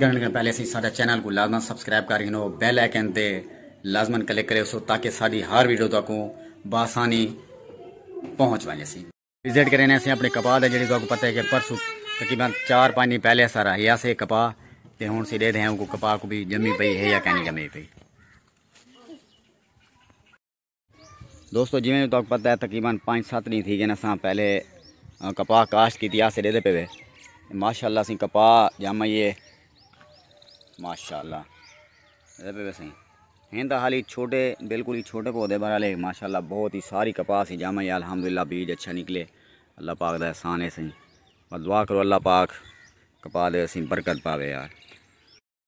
کرن کن پہلے اسی ساڈا چینل کوں لازمن سبسکرائب کر گھنو بیل آئیکن تے لازمن کلک کریسو تاکہ ساڈی ہر ویڈیو تہاکوں بآسانی پہنچ ونجے سی۔ وزٹ کرینے اسی اپنے کپاہ دا جیڑھی تہاکوں پتہ ہے کہ پرسو تقریبا چار پانچ دن پہلے اسا راہیا سے کپاہ تے ہن اسی ڈیدھے ہیں کپاہ کو بھی جمی پئی ہے یا کینی جمی پئی۔ دوستو جویں تہاکوں پتہ ہے تقریبا پانچ سات ݙینہ تھی گئن اساں پہلے کپاہ کاشت کیتی آسے ݙیندے پئے وے ماشاءاللہ اسیں کپاہ جام آئی ہے ماشاءاللہ ݙیندے پئے وے سائیں ہیں تاں حالی چھوٹے بالکل ہی چھوٹے پودے بہرحال ماشاءاللہ بہت ہی ساری کپاہ اسی جام آئی الحمدللہ بیج اچھا نکلے اللہ پاک دا احسان ہے سائیں دعا کرو اللہ پاک کپاہ دے اسیں برکت پاوے یار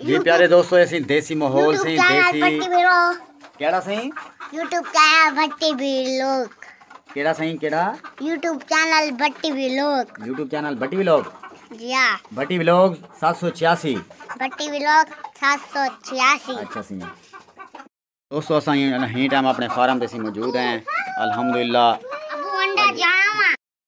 جی پیارے دوستو ایسی دیسی ماحول سی دیسی کیڑا سی یوٹیوب چینل بھٹی ویلوگ کیڑا سی کیڑا YouTube channel Bhatti vlog YouTube channel Bhatti vlog جی ہاں بھٹی ویلوگ 786 بھٹی ویلوگ 786 اچھا سی دوستو اساں ہی ٹائم اپنے فارم تے سی موجود ہیں الحمدللہ ابو انڈا جانا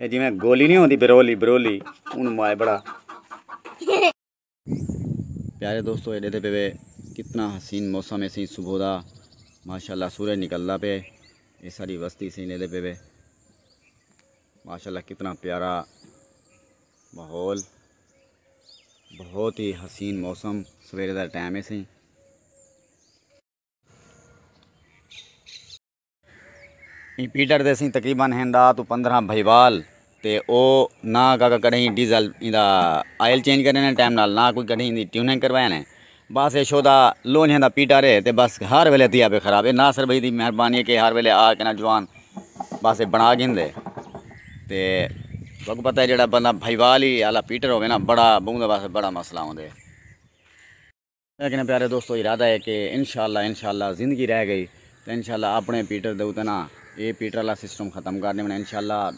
اے جیویں گولی نہیں ہوندی برولی برولی اونوں مائے بڑا پیارے دوستو اے ڈیدھے پہ وے کتنا حسین موسم ہے سی صبح دا ماشاءاللہ سورج نکلدا پہ اے ساری وستی سی ڈیدھے پہ وے ماشاءاللہ کتنا پیارا ماحول بہت ہی حسین موسم سویرے دا ٹائم ہے سی ایں پیٹر دے سئیں تقریبا ہن ݙاہ توں پندرھاں بھئیوال تے او نہ کاکا کݙاہیں ڈیزل ایندا آئل چینج کرݨے نے ٹائم نال نہ کوئی کݙاہیں ایندی ٹیوننگ کروایا نے بس اے شودا لونجھیں دا پیٹر اے تے بس ہر ویلے تھیا پئے خراب اے ناصر بھئی دی مہربانی اے کہ ہر ویلے آ کے نا جوان بس اے بݨا گھندے تے تہاکوں پتہ اے جیڑھا بندہ بھئیوال ہی آلا پیٹر ہووے نا بڑا بہوں دا واسطے بڑا مسئلہ ہوندے۔ ہے کہ نہ پیارے دوستو ارادہ ہے کہ انشاءاللہ انشاءاللہ زندگی رہ گئی تو انشاءاللہ اپنے پیٹر دے اوتے نا اے پیٹر والا سسٹم ختم کر دیونا انشاءاللہ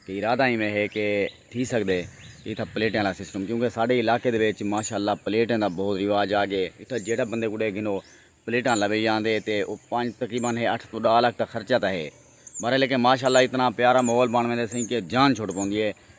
کہ ارادہ ہی میں ہے کہ تھی سکدے اتھا پلیٹیں والا سسٹم کیونکہ ساڈے علاقے دے وچ ماشاءاللہ پلیٹیں دا بہت رواج آ گئے اتھا جیڑھا بندے کو ڈے گھنو پلیٹاں لوی آندے تے او پنج تقریبا ہے اٹھ توں ڈاہ لکھ دا خرچہ تا ہے بارے لیکن ماشاءاللہ اتنا پیارا ماحول بن ویندے سئیں کہ جان چھٹ پوندی ہے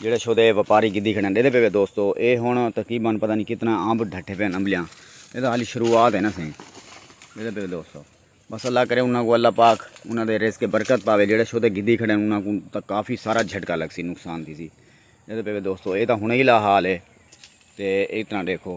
جیڑھے شو دے وپاری گدھی کھڑن ڈیندے پے وے دوستو اے ہن تقریبا پتہ نی کتنا امب ڈھٹے پے امبلیاں اے تاں حالی شروعات ہے نا سئیں ڈیندے پے وے دوستو بس اللہ کرے انہاں کو اللہ پاک انہاں دے رزق برکت پاوے جیڑھے شو دے گدھی کھڑن انہاں کو تاں کافی سارا جھٹکا لگ سی نقصان تھی سی ڈیندے پے وے دوستو اے تاں ہن ہی لا حال ہے تے اے تاں ڈیکھو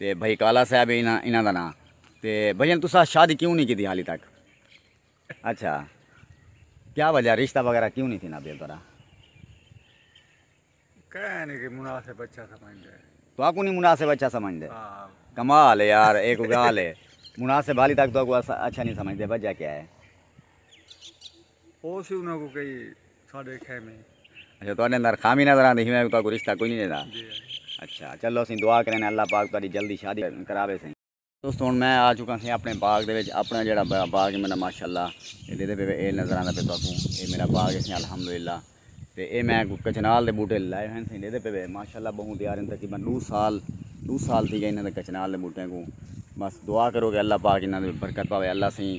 تے بھائی کالا صاحب ہے انہاں دا ناں تے بھائی جان تساں شادی کیوں نہیں کیتی حالی تک اچھا کیا وجہ رشتہ وغیرہ کیوں نہیں تھینا بھیا ترا کہہ نہیں کہ مناسب اچھا سمجھ دے تو آکو نہیں مناسب اچھا سمجھ دے ہاں۔ کمال ہے یار ایک گال ہے مناسب حالی تک تو آکو اچھا نہیں سمجھ دے وجہ کیا ہے او سی انہاں کو کئی ساڈے خیمے اچھا تہاڈے اندر خامی نظر آندی ہی میں کو رشتہ کوئی نہیں دا جی اچھا چلو سی دعا کریں اللہ پاک تہاڈی جلدی شادی کراوے سی دوستو ہن میں آ چکا سی اپنے باغ دے وچ اپنا جیڑا باغ ہے میرا ماشاءاللہ اے ڈیدے پے اے نظر آندا پے تہاکوں اے میرا باغ ہے الحمدللہ تے اے میں کوئی کچنال دے بوٹے لائے ہوئے تھیں ڈیدھے پے وے ماشاءاللہ بہوں تیار ہیں تقریبا ڈو سال ڈو سال تھی گئے انہاں دے کچنال دے بوٹے کوں بس دعا کرو کہ اللہ پاک انہاں دے برکت پاوے اللہ سیں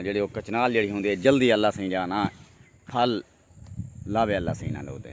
جڑے او کچنال جڑی ہوندی ہے جلدی اللہ سیں جانا پھل لاوے اللہ سیں انہاں دے اوتے۔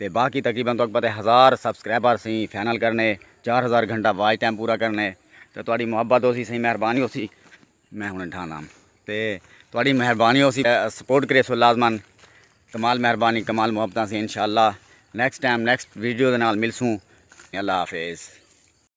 تے باقی تقریبا تہاکوں پتہ ہے ہزار سبسکرائبر اسیں فائنل کرنے چار ہزار گھنٹہ واچ ٹائم پورا کرنے تے تہاڈی محبت ہوسی اسیں مہربانی ہوسی میں ہن ڈھانا تے تہاڈی مہربانی ہوسی سپورٹ کریسو لازما کمال مہربانی کمال محبتاں اسیں انشاءاللہ نیکسٹ ٹائم نیکسٹ ویڈیو دے نال ملسوں اللہ حافظ